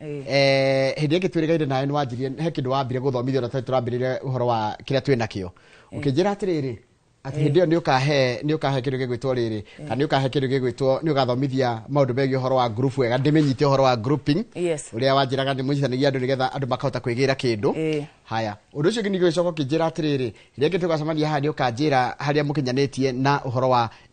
eh, hĩndĩ ĩngĩ twĩrĩgaire nawe nĩ wanjirie he kĩndũ wambire gũthomithio na twarĩ tũrambĩrĩria ũhoro wa kĩrĩa twĩ nakĩo ũkĩnjĩra atĩrĩrĩ atĩ hĩndĩ ĩyo nĩ ũkahe nĩ ũkahe kĩndũ gĩgwĩtwo rĩrĩ kana nĩ ũkahe kĩndũ gĩgwĩtwo nĩ ũgathomithia maũndũ megiĩ ũhoro wa group wega ndĩmenyite ũhoro wa grouping Yes. ũrĩa wanjĩraga nĩ mũnyitithanagia andũ nĩgetha andũ makahota kwĩgĩra kĩndũ Eh. haya ũndũ ũcio ũngĩ ningĩ ũgĩcoka ũkĩnjĩra atĩrĩrĩ rĩngĩ tũgacemania haha nĩ ũkanjĩra harĩa mũkinyanĩtie na ũhoro wa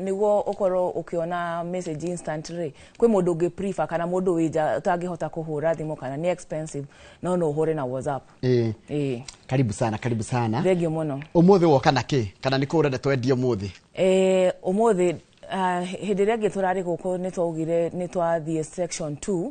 niguo ukorwo ukiona message instant ri kwi mundu ungi prefer kana mundu wi nja utangihota kuhura thimu kana ni expensive no no uhure na whatsapp Eh, eh karibu sana karibu sana thengio muno umuthi woka na ki kana nä kå å renda twendie umuthi Eh, umuthi ah, hĩndĩ ĩrĩa ĩngĩ tũrarĩ gũkũ nĩ twaugire nĩ twathiĩ section 2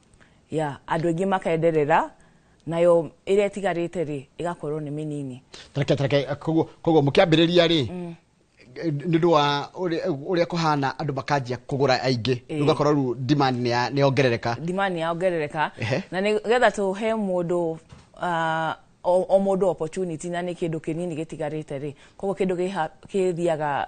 ya andå aingä makenderera nayo ä rä a ĩtigarä te rä ä gakorwo nä mä nini tareke tareke koguo koguo mũkĩambĩrĩria rĩ nĩ ũndũ wa ũrĩa ũrĩa kũhana andũ makanjia kũgũra aingĩ rĩu ũgakorwo rĩu demand nĩ ya- nĩ yongerereka ndimani yaongerereka Ehe. na nä getha tå he må ndå o o må ndå opportunity na nä kä ndå kä nini gä tigarä te rä koguo kä ndå gä thiaga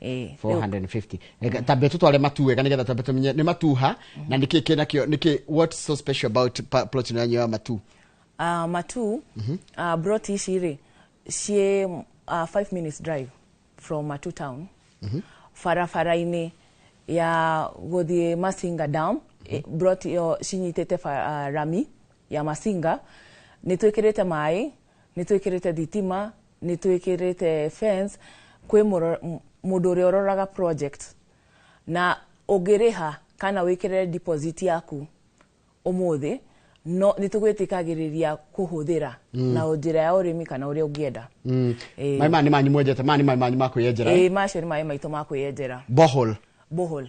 Eh, rĩu- 450 Reka tambe tutware matu wega nigetha tambe tumenye nĩ matuha na nĩkĩ kĩ nakĩo nĩkĩ what so special about pa- plot ĩno yanyu ya matu Ah, matu ah, brot ici rĩ ciĩ uh, five minutes drive from matu town barabara-inĩ ya gũthiĩ masinga dam eh, brot ĩyo cinyitĩte ba- ah, rami ya masinga nĩ twĩkĩrĩte maĩ nĩ twĩkĩrĩte thitima nĩ twĩkĩrĩte fence kwĩ mũro- m- mũndũ ũrĩa ũroraga project na ũngĩrĩha kana wĩkĩrĩre deposit yaku ũmũthĩ no nĩ tũgwĩtĩkagĩrĩria kũhũthĩra na njĩra ya ũrĩmi kana ũrĩa ũngĩenda Mm. Eh. maĩ maya nĩ manyu mwenjete maya nĩ maĩ manyu ma kwĩyenjera ĩĩ macio nĩ maĩ maitũ ma kwĩyenjera bohol bohol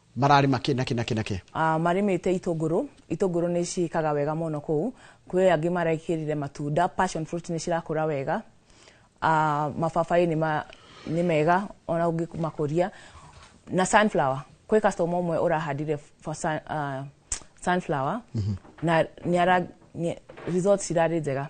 Mararĩ makĩ nakĩ nakĩ nakĩ. Ah, marĩmĩte itũngũrũ, itũngũrũ nĩ ciĩkaga wega mũno kũu. Kwĩ angĩ marekĩrire matunda, passion fruit nĩ cirakũra wega. Ah, mababaĩ nĩ ma, nĩ mega ona ũngĩmakũria. Na sunflower, kwĩ customer ũmwe ũrahandire for sun, ah, sunflower na nĩ ara, nĩ, results cirarĩ njega.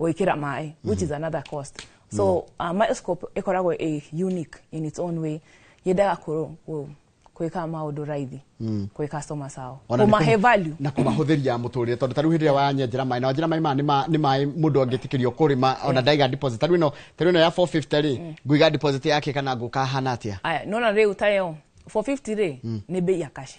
gwĩkĩra maĩ which is another cost so uh, microscope ĩkoragwo ĩ unique in its own way yendaga kũ- kũ- gwĩka maũndũ raithi kwĩ customers ao Ona nĩ kũmahe kũma- value na kũmahũthĩria mũtũrĩre tondũ tarĩu hĩndĩ ĩrĩa wanyenjera maĩ na wanjĩra maĩ maya nĩ ma- nĩ maĩ mũndũ angĩtĩkĩrio kũrĩma ona ndaiga deposit tarĩu ĩno tarĩu ĩno ya 450 rĩ ngũiga deposit yake kana ngũkahana atĩa aya nona rĩu tayo 450 rĩ nĩ mbei ya kashi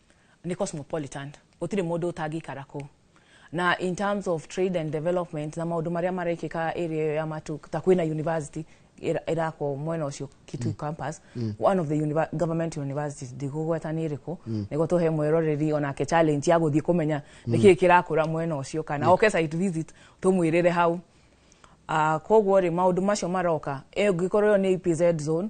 ne cosmopolitan gũtirĩ mũndũ ũtangĩikara kũu na in terms of trade and development na maũndũ marĩa marekĩka area ĩyo ya matu ta kwĩna university ĩra- ĩrakwo mwena ũcio kitu mm. campus mm. one of the univer government universities ndigũgweta nĩ ĩrĩkũ mm. nĩguo tũhe mwĩroreri onake challenge ya gũthiĩ kũmenya mm. nĩkĩĩ kĩrakũra mwena ũcio kana yeah. oke site visit tũmwĩrĩre hau Uh, koguo rĩ maũndũ macio maroka Eh, ũngĩkorwo ĩyo nĩ EPZ zone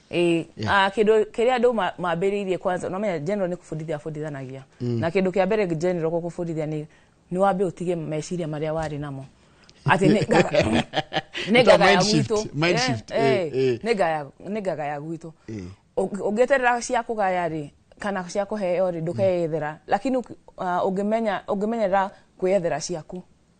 Ĩĩ, Yeah. ah, kĩndũ kĩrĩa andũ ma- mambĩrĩirie kwanza nomenya general nĩ kũbundithia abundithanagia na kĩndũ kĩa mbere general gũkũbundithia nĩ nĩ wambe ũtige meciria marĩa warĩ namo atĩ nĩ ngaga- nĩ Ita ngaga ya mind shift, gwitũ mind Eh, shift, eh, eh, eh. nĩ ngaya- nĩ ngaga ya gwitũ Eh. Ũng- ũngĩeterera cia kũgaya rĩ kana cia kũheo rĩ ndũkeethera lakini ũki- ah, ũngĩmenya ũngĩmenyera kwĩethera ciaku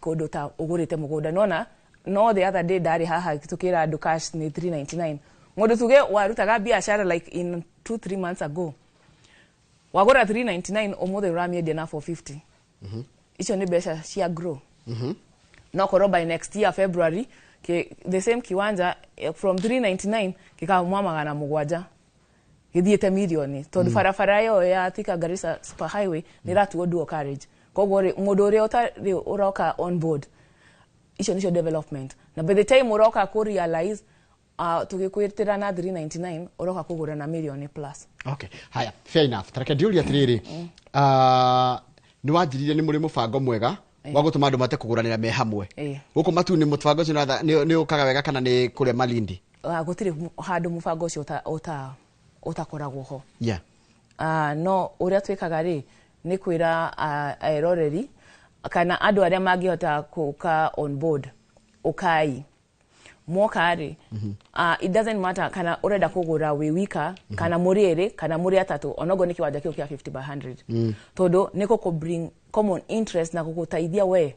kũndũ ta ũgũrĩte mũgũnda nona no the other day ndarĩ haha tũkĩra andũ cash nĩ 399 mũndũ tuge warutaga biashara like in 2 3 months ago wagũra 399 ũmũthĩ ũramiendia na 450 mhm. icio nĩ mbeca cia grow mhm. no korwo by next year february the same kiwanja eh, from 399 gĩkamwa magana mũgwanja gĩthiĩte mirioni tondũ mm. barabara ĩyo ya Thika Garissa super highway nĩ ĩratuo dual carriage koguo rĩ mũndũ ũrĩa ũtarĩ ũroka on board icio nicio development na by the time ũroka ku realize uh, ah, tũgĩkwĩtĩra na 399 ũroka kũgũra na mirioni plus okay haya fair enough tareke ndiũria atĩrĩrĩ mm. ah, nĩ wanjirire nĩ mũrĩ mũbango mwega eh. wa gũtũma andũ mate kũgũranĩra me hamwe eh. gũkũ matu nĩ mũbango ũcio nĩ ũkaga wega kana nĩ kũrĩa malindi Ah, gũtirĩ mu- handũ mũbango ũcio ũta- ũta- ũtakoragwo ho yeah. Ah, no ũrĩa twĩkaga rĩ nĩ kwĩra ah, eroreri kana andũ arĩa mangĩhota kũka on board ũkai mwoka rĩ ah, it doesn't matter kana ũrenda kũgũra wĩ wika kana mũrĩ erĩ kana mũrĩ atatũ onogo nĩ kĩwanja kĩu kĩa 50 by 100 tondũ nĩ gũkũ bring common interest na gũgũteithia we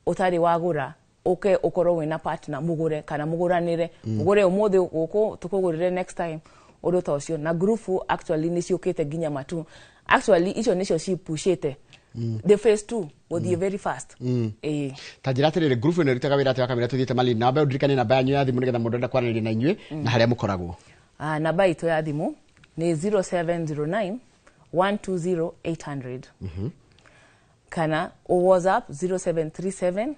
ũtarĩ wagũra ũke ũkorwo wĩna partner mũgũre kana mũgũranĩre mm. mũgũre ũmũthĩ gũkũ tũkũgũrĩre next time ũndũ ta ũcio na ngurubu actually nĩ ciũkĩte nginya matu actually icio nĩcio cipushĩte mm. the phase two gũthiĩ mm. very fast mm. ĩĩ ta njĩra atĩrĩrĩ ngurubu ĩno ĩrutaga wĩra atĩ wa kamera tũthiĩte malini namba ĩyo ndirikane namba yanyu ya thimũ nĩgetha mũndũ enda kwaranĩria na inyuĩ na harĩa mũkoragwo ah, namba itũ ya thimũ nĩ 0709 120 800 mm -hmm. kana ũ whatsapp 0737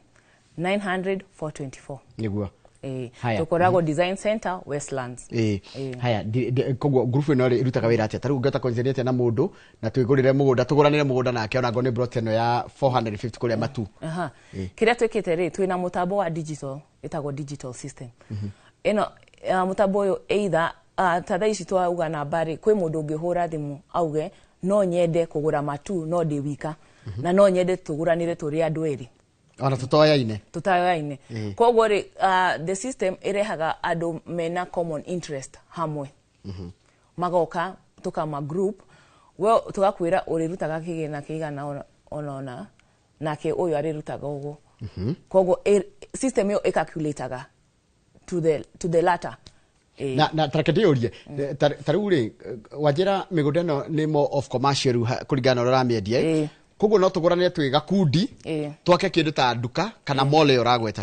900 424 niguo Eh, Haya. tukoragwo design center westlands Eh, Eh. haya ndi- ndi- koguo ngurubu ĩno rĩ ĩrutaga wĩra atĩa tarĩu ngĩhota kwenjania atĩa na mũndũ na twĩgũrĩre mũgũnda tũgũranĩre mũgũnda nake ona ngorwo nĩ brot ĩno ya 450 kũrĩa matu Aha. Eh. kä rä a twä kä te rä twä na må tambo wa digital ĩtagwo digital system mm-hmm. ĩno uh, mũtambo ũyũ either uh, ta thaa ici twauga namba rĩ kwĩ mũndũ ũngĩhũra thimũ auge no nyende kũgũra matu no ndĩ wika mhm. na no nyende tũgũranĩre tũrĩ andũ erĩ ona tũtoyaine tũtoyaine mm. koguo rĩ uh, the system ĩrehaga andũ mena common interest hamwe mhm. magoka tũkama group we tũgakwĩra ũrĩrutaga kĩgĩna kĩigana ona ona nake ũyũ arĩrutaga ũguo mhm. koguo system ĩyo ĩcalculataga to the, to the latter eh. na na tareke ndĩyũrie mm. eh, ta rĩu rĩ wanjĩra mĩgũnda ĩno nĩ more of commercial kũringana na ũrĩa ũramĩendia eh? koguo no tũgũrane twĩ gakundi twake kĩndũ ta nduka kana mall ĩyo ũragweta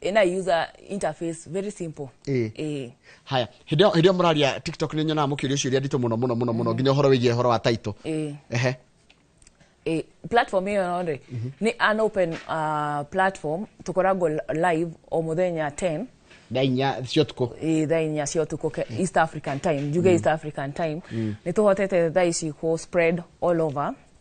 ina user interface very simple eh. eh. haya hĩndĩ ĩyo mũraria tiktok nĩ nyonaga mũkĩũria ciũria nditũ mũno mũno mũno mũno mm. nginya ũhoro wĩgiĩ ũhoro wa taitũ eh. ehe eh, platform ĩyo no rĩ mhm. nĩ an open uh, platform tũkoragwo live o mũthenya 10 thaa inya cia ũtukũ thaa inya cia ũtukũ east african time njuge mm. east african time mm. nĩ tũhotete thaa ici kũ spread all over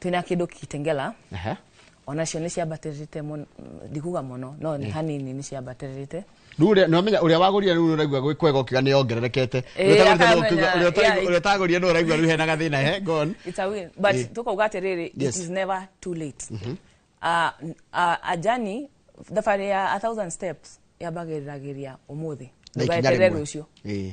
twina kindu kitengela Aha. onacio nä ciambatä ndikuga må no no nĩ hanini nä ciambatä Rĩu ũrĩa- nĩwamenya ũrĩa wagũrire rĩu ũraigua gwĩ kwega ũkiuga nĩ ongererekete Eh, Ũrĩa ũtagũrire nĩ ũkiuga- akamenya, ũrĩa ũtagũrire- yeah. ũrĩa ũtagũrire nĩ ũraigua rĩu hena gathĩna he gone Eh. tå kauga atä rä rä Yes. Mhm. never too late Ah, n- ah, ajani thabarä ya a thousand steps yambagä ragä ria å må thä Na ikinya ndågaeterere rĩmwe. rå cio Eh.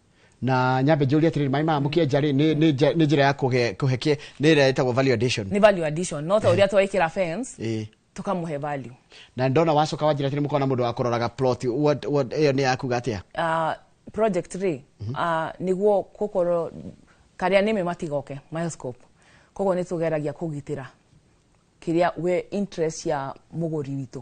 na nyambe njũrie atĩrĩrĩ maĩ maya mũkĩenja rĩ nĩ- nĩ nja- nĩ njĩra ya kũhe kũhe kĩ- nĩ ĩrĩa ĩtagwo value addition nĩ value addition no ta ũrĩa twekĩra fence Ĩĩ. tũkamũhe value na ndona wacoka wanjĩra atĩrĩ mũkona mũndũ wa kũroraga plot what- what- ĩyo nĩ yakuga atĩa uh, project rĩ uh, niguo gukorwo karia nime matigoke milescope koguo nä tå geragia kå gitä ra kä rä a we interest ya må gå ri witå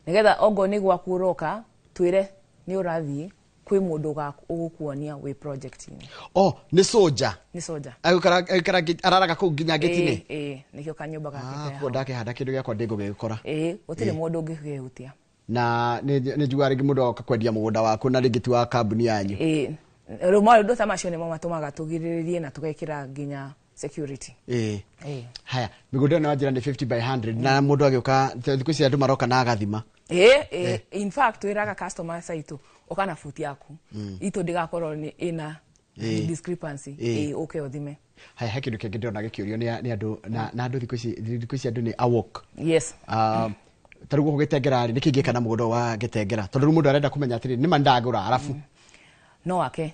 nä getha ongo nä gwaku å roka twä re nä å rathiä kwĩ mũndũ ũga- ũgũkuonia wĩ project-inĩ o nĩ soja nĩ soja Agĩkara- agĩkara ngĩ- araraga kũu nginya ngĩtinĩ Ĩĩ, ĩĩ, nĩkĩo kanyũmba gake Ah, ke kuo hau. ndakĩhanda kĩndũ gĩakwa ndĩngũgĩkora Ĩĩ, gũtirĩ mũndũ ũngĩkĩhutia na nĩ nĩ njugaga rĩngĩ mũndũ oka kwendia mũgũnda waku na rĩngĩ ti wa kambuni yanyu Ĩĩ, rĩu maũndũ ta macio nĩmo matũmaga tũgirĩrĩrie na tũgekĩra nginya security ĩĩ eh. haya mĩgũnda ĩyo nĩ wanjĩra nĩ 50 by 100 na mũndũ agĩũka thikũ ici andũ maroka na agathima eh, eh, eh. in fact twĩraga customers aitũ ũka na buti yaku mm. itũ ndĩgakorwo nĩ ĩna eh. discrepancy eh. Eh, ũke ũthime haya he kĩndũ kĩngĩ ndĩrona gĩkĩũrio nĩ andũ na na andũ thikũ ici thikũ ici andũ nĩ awok yes uh, tarä gå kå gä tengera rä nä kä ingä kana må gå nda wa gä tengera tondå rä u må ndå arenda kå menya atä rä nä ma ndagå ra arabu mm. no wake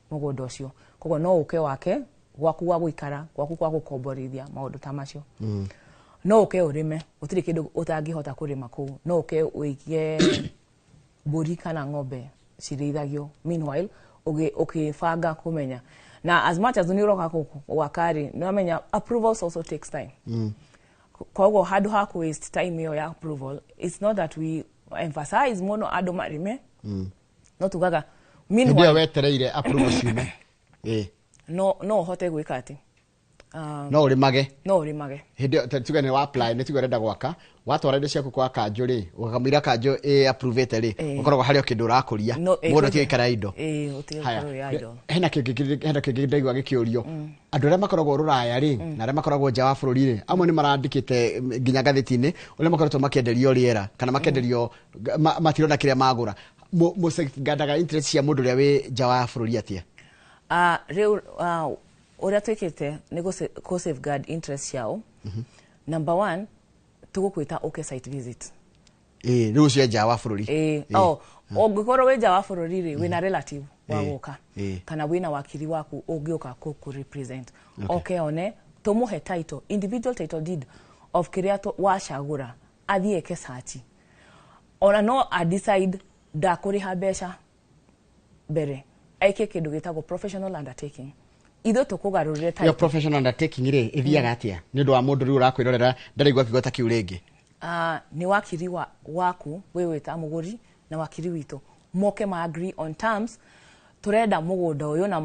mũgũnda ũcio koguo no ũke wake gwaku gwa gũikara gwaku gwa gũkomborithia maũndũ ta macio mm. no ũke ũrĩme gũtirĩ kĩndũ ũtangĩhota kũrĩma kũu no ũke ũige mbũri kana ng'ombe cirĩithagio meanwhile ũkĩbanga kũmenya na as much as nä å roka gwaka rä nä wamenya approvals also takes time mm. koguo handå ha kå waste time ä yo ya approval it's not that we emphasize må no andå marä me mm. no tugaga hĩndĩ ĩyo wetereire approval ciume Ĩĩ. no no hote gwika ati Ah, no ũrĩmage no rimage hĩndĩ ĩyo- ta- tuge nĩ wa apply nĩ tuge ũrenda gwaka watwara indo ciaku kwa kanjũ rĩ ũkamwĩra kanjũ ĩ approvĩte rĩ Ĩĩ. ũkoragwo harĩ o kĩndũ ũrakũria No, ĩĩ, mũndũ kwĩna- tigaikara indo ĩĩ, ũtige Haya, gũkorwo ya indo. hena kĩngĩ kĩrĩ- hena kĩngĩ ndaigua gĩkĩũrio andũ arĩa makoragwo rũraya rĩ na arĩa makoragwo nja wa bũrũri rĩ amwe nĩ marandĩkĩte mm, nginya ngathĩti-inĩ ũrĩa makoretwo makĩenderio rĩera kana makĩenderio Ga- ma- matirona kĩrĩa magũra Mũ- mũcengandaga interest cia mũndũ ũrĩa wĩ nja wa bũrũri atĩa Ah, rĩu ah, ũrĩa twĩkĩte nĩ gũ sa- kũ safeguard interest ciao number one tũgũkwĩta ũke site visit Ĩĩ, rĩu ũcio e nja wa bũrũri Ĩĩ, Ĩĩ. oh, ũngĩkorwo wĩ nja wa bũrũri rĩ wĩna relative wa Ĩĩ, gũka ĩĩ. kana wĩna wakiri waku ũngĩũka kũ kũ represent oke one tũmũhe title individual title deed of kĩrĩa tũ- wacagũra athiĩ eke search ona no a decide ndakũrĩha mbeca mbere eke kĩndũ gĩtagwo professional undertaking ithuĩ tũkũgarũrĩre yo title. professional undertaking rĩ ĩthiaga atĩa nĩ ũndũ wa mũndũ rĩu ũrakwĩrorera ndaraigua kiugo ta kĩu rĩngĩ Ah, nĩ wakiri wa, waku wĩ wĩta mũgũri na wakiri witũ moke ma agree on terms turenda mugunda uyu na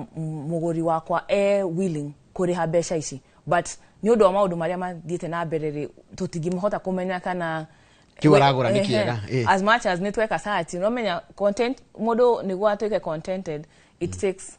muguri wakwa e willing kuriha mbeca ici but ni undu wa maundu maria mathiite na mbere ri tutingimhota kumenya kana kiu aragura ni kiega eh. as much as ni tweka search no menya content mundu niguo atuike contented it mm. takes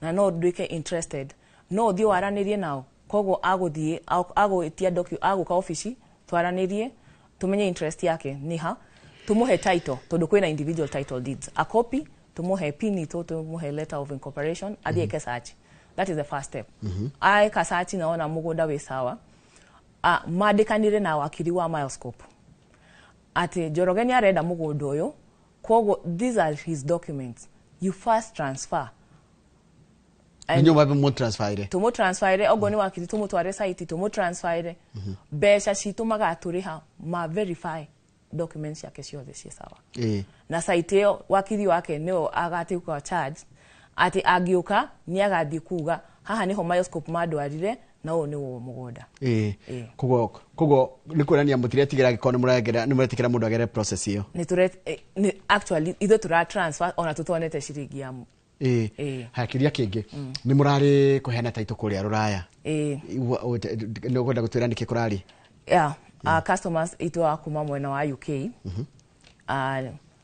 na no nduĩke interested, no ũthiĩ waranĩrie nao, koguo agũthiĩ agwĩtia docu, agũka obici twaranĩrie tũmenye interest yake nĩ ha, tũmũhe title tondũ kwĩna individual title deeds, a copy tũmũhe pin itũ tũmũhe letter of incorporation athiĩ eke search that is the first step aeka search na ona mũgũnda wĩ sawa a- mandĩkanire na wakiri wa Milescope atĩ Njoroge nĩ arenda mũgũnda ũyũ Kwoguo these are his documents. You first transfer. And nĩnyũmba mũtransfire tũmũtransfire okorwo nĩ wakiri tũmũtware site tũmũtransfire mhm. mbeca citũ magatũrĩha ma verify documents ciake ciothe ciĩ sawa eh. na site ĩyo wakiri wake nĩo agatuĩka charge atĩ angĩũka nĩ agathiĩ kuga haha nĩho microscope mandwarire na ũyũ nĩ wũ mũgũnda ĩĩ Ĩĩ. koguo koguo nĩ kuonania mũtiretigĩra angĩkorwo nĩ mũragera nĩ mũretikĩra mũndũ agere process ĩyo nĩ tũre eh, nĩ- actually ithuĩ tũra transfer ona tũtonete ciringi ya mu- ĩĩ Ĩĩ. haya kĩũria kĩngĩ nĩ mũrarĩ kũheana taitũ kũrĩa rũraya ĩĩ Igua- o- te- te- nĩ ũkwenda gũtwĩra nĩkĩ kũrarĩ yeah, uh, customers itũ a kuma mwena wa uk uh,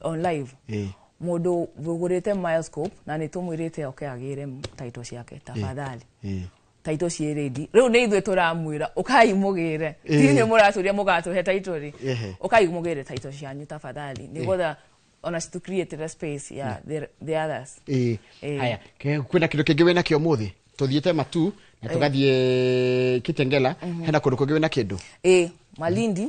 on live Eh. mũndũ wĩgũrĩte Milescope na nĩ tũmwĩrĩte oke agĩre taito ciake tafadhali Eh. taito ciĩ rendi rĩu nĩ ithuĩ tũramwĩra ũkai mũgĩre Eh. ti nĩ mũratũria mũgatũhe taito rĩ Ehe. ũkai mũgĩre taito cianyu tafadhali nĩgetha ona to create the space ya the, the others Eh. Eh. haya Ke- kwĩna kĩndũ kĩngĩ wĩna kĩo mũthĩ tũthiĩte matu na tũgathiĩ kitengela hena kũndũ kũngĩ wĩna kĩndũ ĩ malindi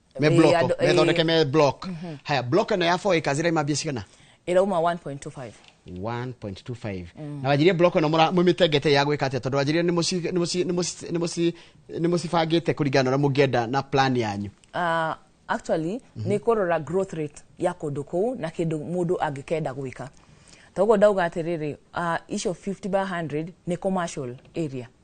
me Eh, bloko andũ- eh, methondeke me block haya block ĩno ya 4 acres ĩraima mbia cigana ĩrauma 1.25 1.25 na wanjirie block ĩno mũra- mũmĩtengete ya gwĩka atĩa tondũ wanjirie nĩ mũci- nĩ mũci- nĩ mũci- nĩ mũci- nĩ mũcibangĩte kũringana na ũrĩa mũngĩenda na plan yanyu uh, actually nä kå rora growth rate ya kå ndå kå u na kä ndå må ndå angä kenda gwä ka toguo ndauga atä rä rä icio 50 by 100 nä commercial area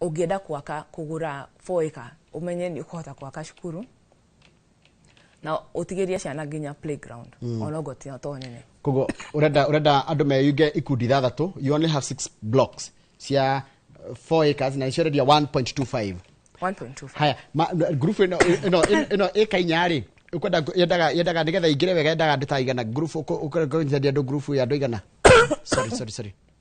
ũngĩenda kwaka kũgũra four acre ũmenye nĩ ũkũhota kwaka cukuru na ũtigĩrie ciana nginya playground mm. onogo tino to nene koguo urenda urenda andå meyunge ikundi ithathatå you only have six blocks cia uh, four acres na nĩciorendia 1.25 1.25 haya ma- n- group ĩno ĩno ĩno ĩka inya rĩ ukwenda yendaga yendaga nigetha ingire wega yendaga andå ta igana group uko- uko- uko- yendaga andå group ya andå igana sorry sorry sorry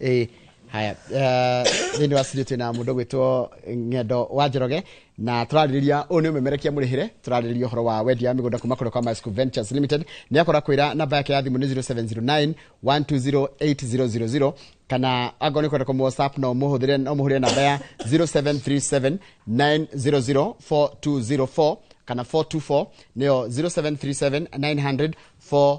ĩĩ haya thĩinĩ wa studio twĩna mũndũ gwĩtwo ng'endo wa njoroge na tũrarĩrĩria ũyũ nĩ ũmemerekia mũrĩhĩre tũrarĩrĩria ũhoro wa wendia wa mĩgũnda kuma kũrĩ kwa Masco Ventures Limited nĩ akora kwĩra namba yake ya thimũ nĩ 0709 120800 kana angorwo nĩ kwenda kũmũ whatsapp no mũhũthĩre no mũhũrĩre namba ya 0737 900 4204 kana 424 nĩyo 0737 900 4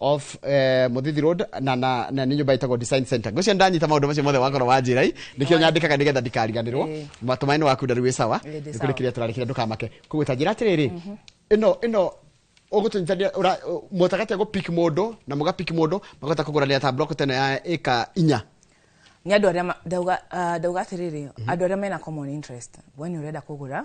off eh, muthithi road na na na nĩ nyũmba ĩtagwo design center ngũcio ndanyita maũndũ macio mothe wakorwo wa njĩra i nĩkĩo nyandĩkaga nĩgetha ndikariganĩrwo Eh. matũmainĩ waku ndarĩ wĩ sawa Eh, ndĩ nĩ kũrĩ sawa. kĩrĩa tũrarĩkĩra ndũkamake koguo ta njĩra atĩrĩrĩ ĩno ĩno ũgũtũnyitania mũtagati agũpik mũndũ na mũgapik mũndũ makahota kũgũranĩra ta block teno ya ĩka inya nĩ andũ arĩa ma- ndauga ah, ndauga atĩrĩrĩ andũ arĩa mena common interest we nĩ ũrenda kũgũra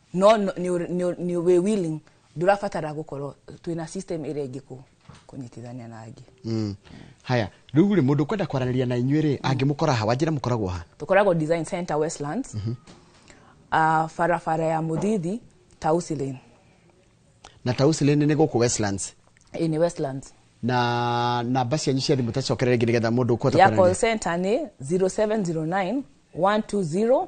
no no- nĩ ũr- nĩ ũr- nĩ wĩ willing ndũrabatara gũkorwo twĩna system ĩrĩa ĩngĩ kũ- kũnyitithania na angĩ Mm. haya rä u rä må ndå kwenda kwaranä ria na inyuä rä angä må kora ha wanjä ra må koragwo ha tũkoragwo design center westlands Ah, barabara ya mũthithi tausi lane na tausi lä nä gå kå westlands Ĩĩ, nĩ westlands na namba cianyu cia thimå tacokerere ngä nä getha må ndå ya call center nĩ 0709 120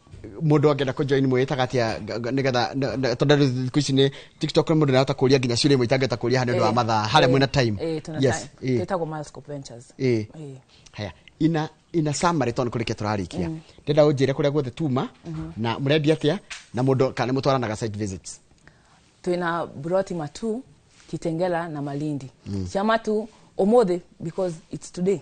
mundu angenda ku join mwitaga atia nigetha tondu riu thiku ici ni tiktok mundu nahota kuria nginya ciuria imwe itangihota kuria handu ndu wa eh, mathaa haria eh, mwina time eh, yes twitagwo milescope ventures eh haya ina ina summary tondu kurikia turarikia mm. ndenda unjire kuria guothe tuma mm-hmm. na murendia atia na mundu kana mutwaranaga site visits twina broti matu kitengela na malindi mm. ciamatu umuthi because it's today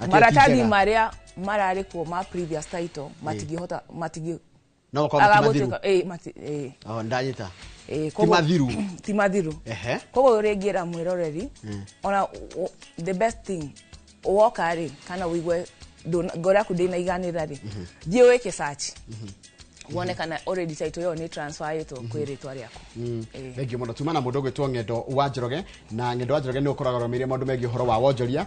Ati maratathi akĩnjega. marĩa mararĩ kuo ma previous title matingĩhota matingĩ No gũkorwo ti mathiru. agagũtuĩka eh, mati- eh, Oh, ndanyita eh, ti koguo- mathiru ti mathiru Ehe. koguo rĩngĩra mwĩroreri ona u- u- the best thing woka rĩ kana ũigue ndũna- ngoro yaku ndĩnaiganĩra rĩ thiĩ wĩke search wone kana already title ĩyo nĩ transferĩtwo kwĩ rĩtwa rĩaku Eh. thengiå må no tuma na må ndå gwä two ng'endo wa njoroge na ng'endo wa njoroge nä å koragwo romeire maå ndå megiä å horo wa wonjoria